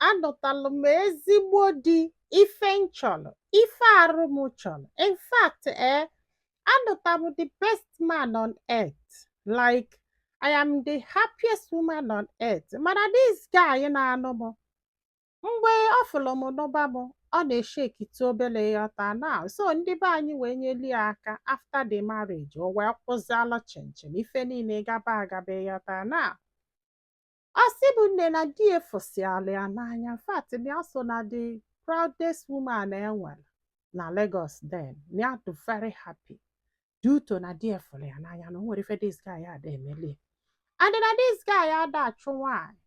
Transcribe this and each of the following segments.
anụtalụ m ezigbo di ife m chọrọ ife arụ m chọrọ in fact ee eh, anụta m the best man on earth like I am the happiest woman on earth mana this guy na-anụ m mgbe ọ fụrụ m nụba m ọ na-eshaketụ obere ịghọta na so ndị be anyị wee nyeli ya aka after the marriage o wee kwụzialụ chịm chịm ife niile gaba agaba ịghọta na Ọ sị bụ nne na di ya fụsịala ya n'anya in fact na ya so na the proudest woman e nwere na Lagos then na ya dị very happy due to na di ya fụrụ ya n'anya na o nwere ife this guy ada emeli ya. and na this guy ada achụ nwaanyị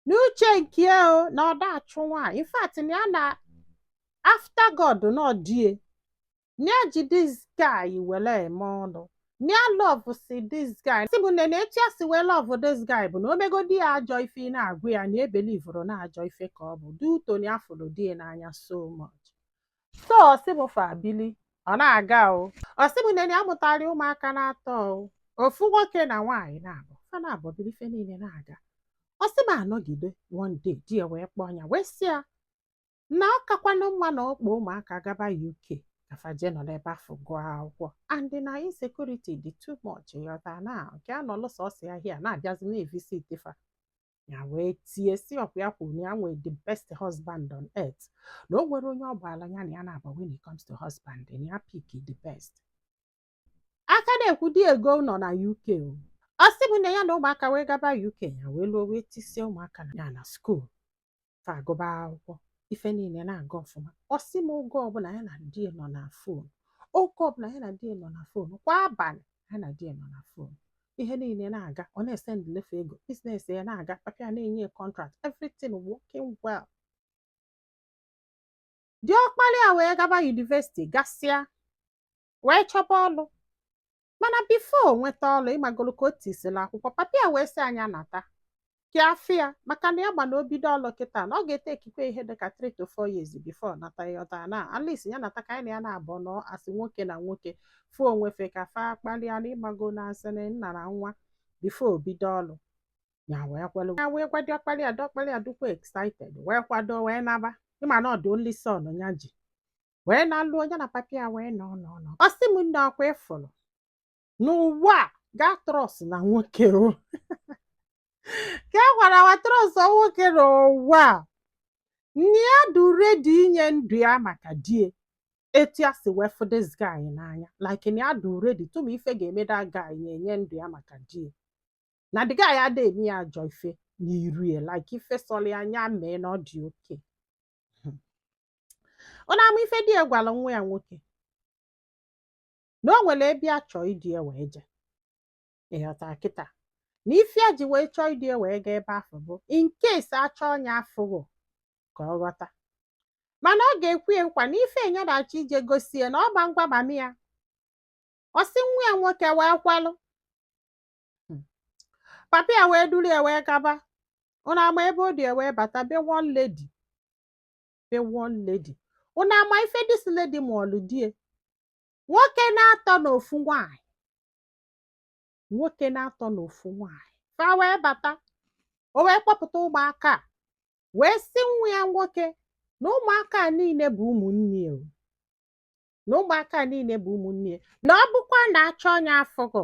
n'uche nke ya o na ọ da achụ nwaanyị in fact na ya na after God na ọ di ya na ya ji this guy were eme ọnụ na ya love si this guy sị bụ nne na etu ya si wee love this guy bụ na o megodi ya ajọ ife ị na-agwa ya na ebelieverọ na ajọ ife ka ọ bụ due to na ya fụrụ di ya n'anya so much so ọ sị bụ fa bili ọ na-aga o ọ sị bụ nne na ya mụtara ụmụaka naatọ o ofu nwoke na nwaanyị naabọ fa naabọ bili ife niile na-aga ọ sị bụ anọgide one day di ya wee kpọọ ya wee sị ya na ọ kakwanụ mma na ọ kpọọ ụmụaka gaba UK ka fa jee nọrọ ebe afụ gụọ akwụkwọ and na insecurity dị too much ịghọta na nke ya nọlụ sọsọ ya here na-abịazi na-evisit fa ya wee tie sị ọ kwa ya kwuru na ya nwee the best husband on earth na o nwere onye ọ gbaala ya na ya na-agba when it comes to husband na ya pick the best a ka na-ekwu di ya egoo ụnọ na UK o. ọ sị m na ya na ụmụaka wee gaba UK ya wee luo wee tisie ụmụaka ya na school fa agụba akwụkwọ ife niile na-aga ọfụma ọ sị m oge ọbụla ya na di nọ na phone oge ọbụla ya na di nọ na phone kwa abalị ya na di nọ na phone ihe niile na-aga ọ na-esendịlị fa ego business ya na-aga papa ya na-enye contract everything working well diọkpara ya wee gaba university gasịa wee chọba ọlụ mana before o nweta ọlụ ịmagolu ka o tisila akwụkwọ papa ya wee sị ya na ya nata ka ya fụ ya maka na ya ma na o bido ọlụ kịta na ọ ga-ete ekikwe ihe dịka 3 to 4 years before ọ nata ịghọta na at least ya nata ka ya na ya naabọ nọọ as nwoke na nwoke fụ onwe fa ka fa kpalịa na ịmago na as in nna na nwa before o bido ọlụ ya wee kwelu ya wee gwa diọkpala ya diọkpala ya dịkwa excited wee kwado wee naba ị ma na ọ the only son ya ji wee na-alụ onye na papa ya wee nọ nọ nọ ọ sị m nne ọkwa ị fụrụ n'ụwa a gaa trust na nwoke o ka e gwara wa trust nwoke n'ụwa a na ya dị ready inye ndụ ya maka di ya etu ya si wee fụ this guy n'anya like na ya dị ready tụma ife ga-eme that guy nya enye ndụ ya maka di ya na the guy ada eme ya ajọ ife n'iru ya like ife sọrọ ya nya mee na ọ dị okay ụna ama ife di ya gwara nwa ya nwoke na o nwere ebe ya chọọ idu ya wee jee ị ghọta kịta na ife ya ji wee chọọ idu ya wee gaa ebe afụ bụ in case a chọọ nya afụghọ ka ọ ghọta mana ọ ga-ekwe ya nkwa na ife nya na-achọ ije gosi ya na ọ ma-agwa mami ya ọ sị nwa ya nwoke wee kwelụ papa ya wee duru ya wee gaba ụna ama ebe o du ya wee bata be one lady the one lady unu ama ife this lady mụọlụ di ya nwoke n'atọ na ofu nwanyị nwoke n'atọ na ofu nwanyị fa wee bata o wee kpọpụta ụmụaka a wee sị nwa ya nwoke na ụmụaka a niile bụ ụmụnne ya o. na ụmụaka a niile bụ ụmụnne ya na ọ bụkwa na a chọọ nya afụghọ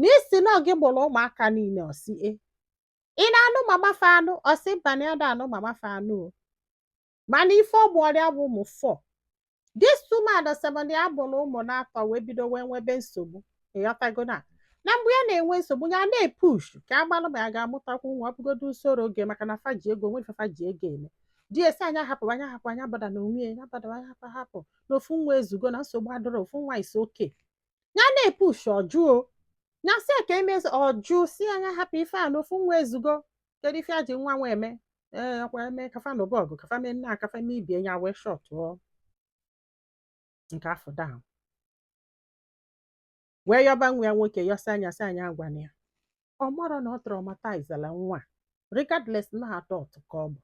na ị sị na gị mụrụ ụmụaka niile ọ sị ee ị na-anụ mama fa anụ ọ sị mba na ya ada anụ mama fa anụ o mana ife ọ mụọrọ ya bụ ụmụ four this woman sị m na ya mụrụ ụmụ n'atọ wee bido wee nwebe nsogbu ị ghọtago na na mgbe ya na-enwe nsogbu ya na-epush ka a malụ ma ya ga-amụtakwu nwa ọ bụgodo surrogate maka na fa ji ego nwe ife fa ji ego eme di ya sị nya hapụ nya hapụ nya bother na onwe ya nya bother nya hapụ hapụ na ofu nwa ezugo na nsogbu adịrọ ofu nwa is okay ya na-epush ọ jụ o ya sị ka e mezie ọ jụ sị nya hapụ ife a na ofu nwa ezugo kedu ife e ji nwa nwa eme ee ọkwa eme ka fa nụba ọgụ ka fa mee nnaa ka fa mee ibe ya wee shutụọ nke afụ down wee yọba nwa ya nwoke yọsịa nya sị nya agwana ya ọ marọ na ọ traumatizela nwa regardless na adult ka ọ bụ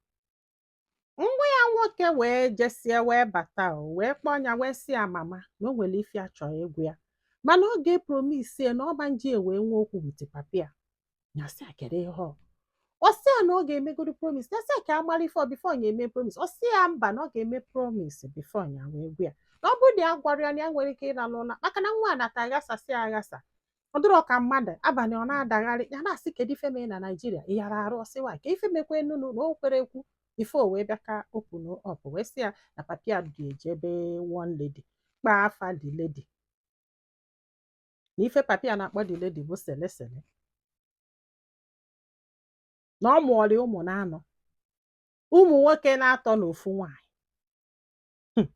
nwa ya nwoke wee jesịa wee bata o wee kpọọ ya wee sị ya mama na o nwere ife ya chọrọ ịgwa ya mana ọ ga-epromise na ọ ma-eji ya wee nwee okwu with papi ya ya sị ya kedu ihe ọ ọ sị ya na ọ ga-emegodo promise ya sị ya ka a mara ife ọ before ya eme promise ọ sị ya mba na ọ ga-eme promise before ya wee gwa ya na ọ bụrụ na ya agwarọ ya na ya enwerọ ike ịlalụ ụla maka na nwata a aghasasịa aghasa ọ dịrọ ka mmadụ abalị ọ na-adagharị ya na-asị kedu ife mee na naijiria ị yara arụ ọ sị wa ka ife mekwanụnụ na o kwerọ ekwu ife o wee bịa ka open up wee sị ya na papi ya du ya jee ebe one lady kpaa afa the lady na ife papi ya na-akpọ the lady bụ sele sele na ọ mụọrọ ya ụmụ n'anọ ụmụ nwoke n'atọ na ofu nwaanyị Hmm.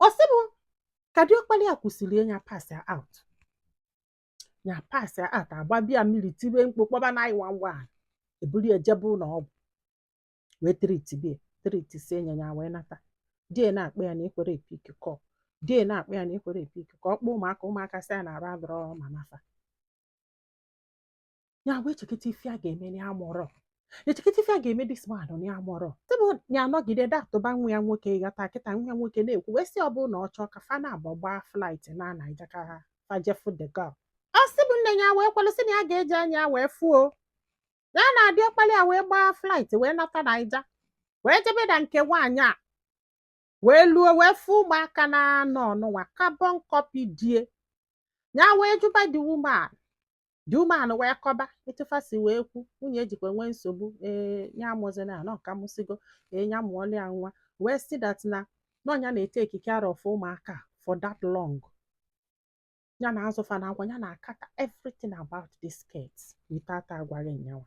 ọ sị bụ ka diọkpala ya kwusịrị ya pass out ya pass out agbaba ya mmiri tibe mkpu kpọba 911 eburu ya jebe ụlọ ọgwụ wee tritibe ya tritisie ya ya wee nata di ya na-akpọ ya na ekwerọ epick call di ya na-akpọ ya na ekwerọ epick call ọ kpọọ ụmụaka ụmụaka sị ya na arụ adịrọ mama fa ya wee chekịta ife a ga-eme na ya amọrọ echekịta ife a ga-eme this man na ya amọrọ tebụ ya anọgide da atụba nwa ya nwoke ghọta kịta nwa ya nwoke na-ekwu wee sị ọ bụrụ na ọ chọọ ka fa naabọ gbaa flight naa Naija ka fa je fụ the girl ọ sị bụ nne ya wee kwelụ sị na ya ga-eji anya ya wee fụọ ya na diọkpala ya wee gbaa flight wee nata Naija wee jebe na nke nwaanyị a wee luo wee fụ ụmụaka naanọ nụnwa carbon copy di ya ya wee jụba the woman the woman wee kọba etu fa si wee kwu nwunye ejikwa nwee nsogbu ee nya amụzina ya na ọ ka mụsigo ee nya amụọla ya nwa wee sị that na ọ nya na-etake care of ụmụaka for that long ya na-azụ fa na agwa ya na-acater everything about this kids without agwaghị nyanwa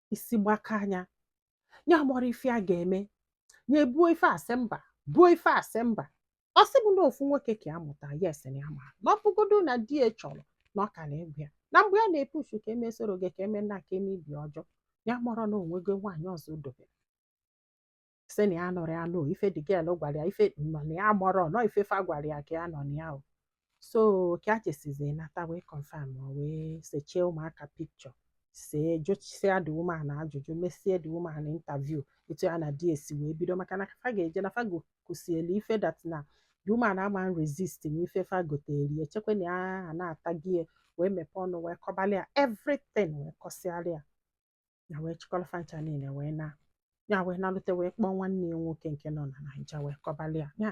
isi gbakaa nya ya amọrọ ife a ga-eme ya ebuo ife a sị mba buo ife a sị mba ọ sị bụ na ofu nwoke ka ya mụta yes na ya ma na ọ bụgodo na di ya chọrọ na ọ ka na-agwa ya na mgbe ya na-epush ka eme surrogate ka eme nna ka eme ibi ọjọọ ya amọrọ na onwego nwaanyị ọzọ o dobere sị na ya nụrụ ya nụ ife the girl gwara ya ife nọ na ya amọrọ nọ ife fa gwara ya ka ya nọ na ya o so ka e chesizi nata wee confirm ma wee sechie ụmụaka picture see jụsịa the woman ajụjụ mesie the woman interview etu ya na di ya si wee bido maka na fa ga-eje na fa gokusielu ife that na the woman ama resist na ife fa gotere echekwa na ya na-ata gị wee mepee ọnụ wee kọbalị ya everything wee kọsịara ya ya wee chịkọrọ fa ncha niile wee naa ya wee nalute wee kpọọ nwanne ya nwoke nke nọ na Naija wee kọbalị ya ya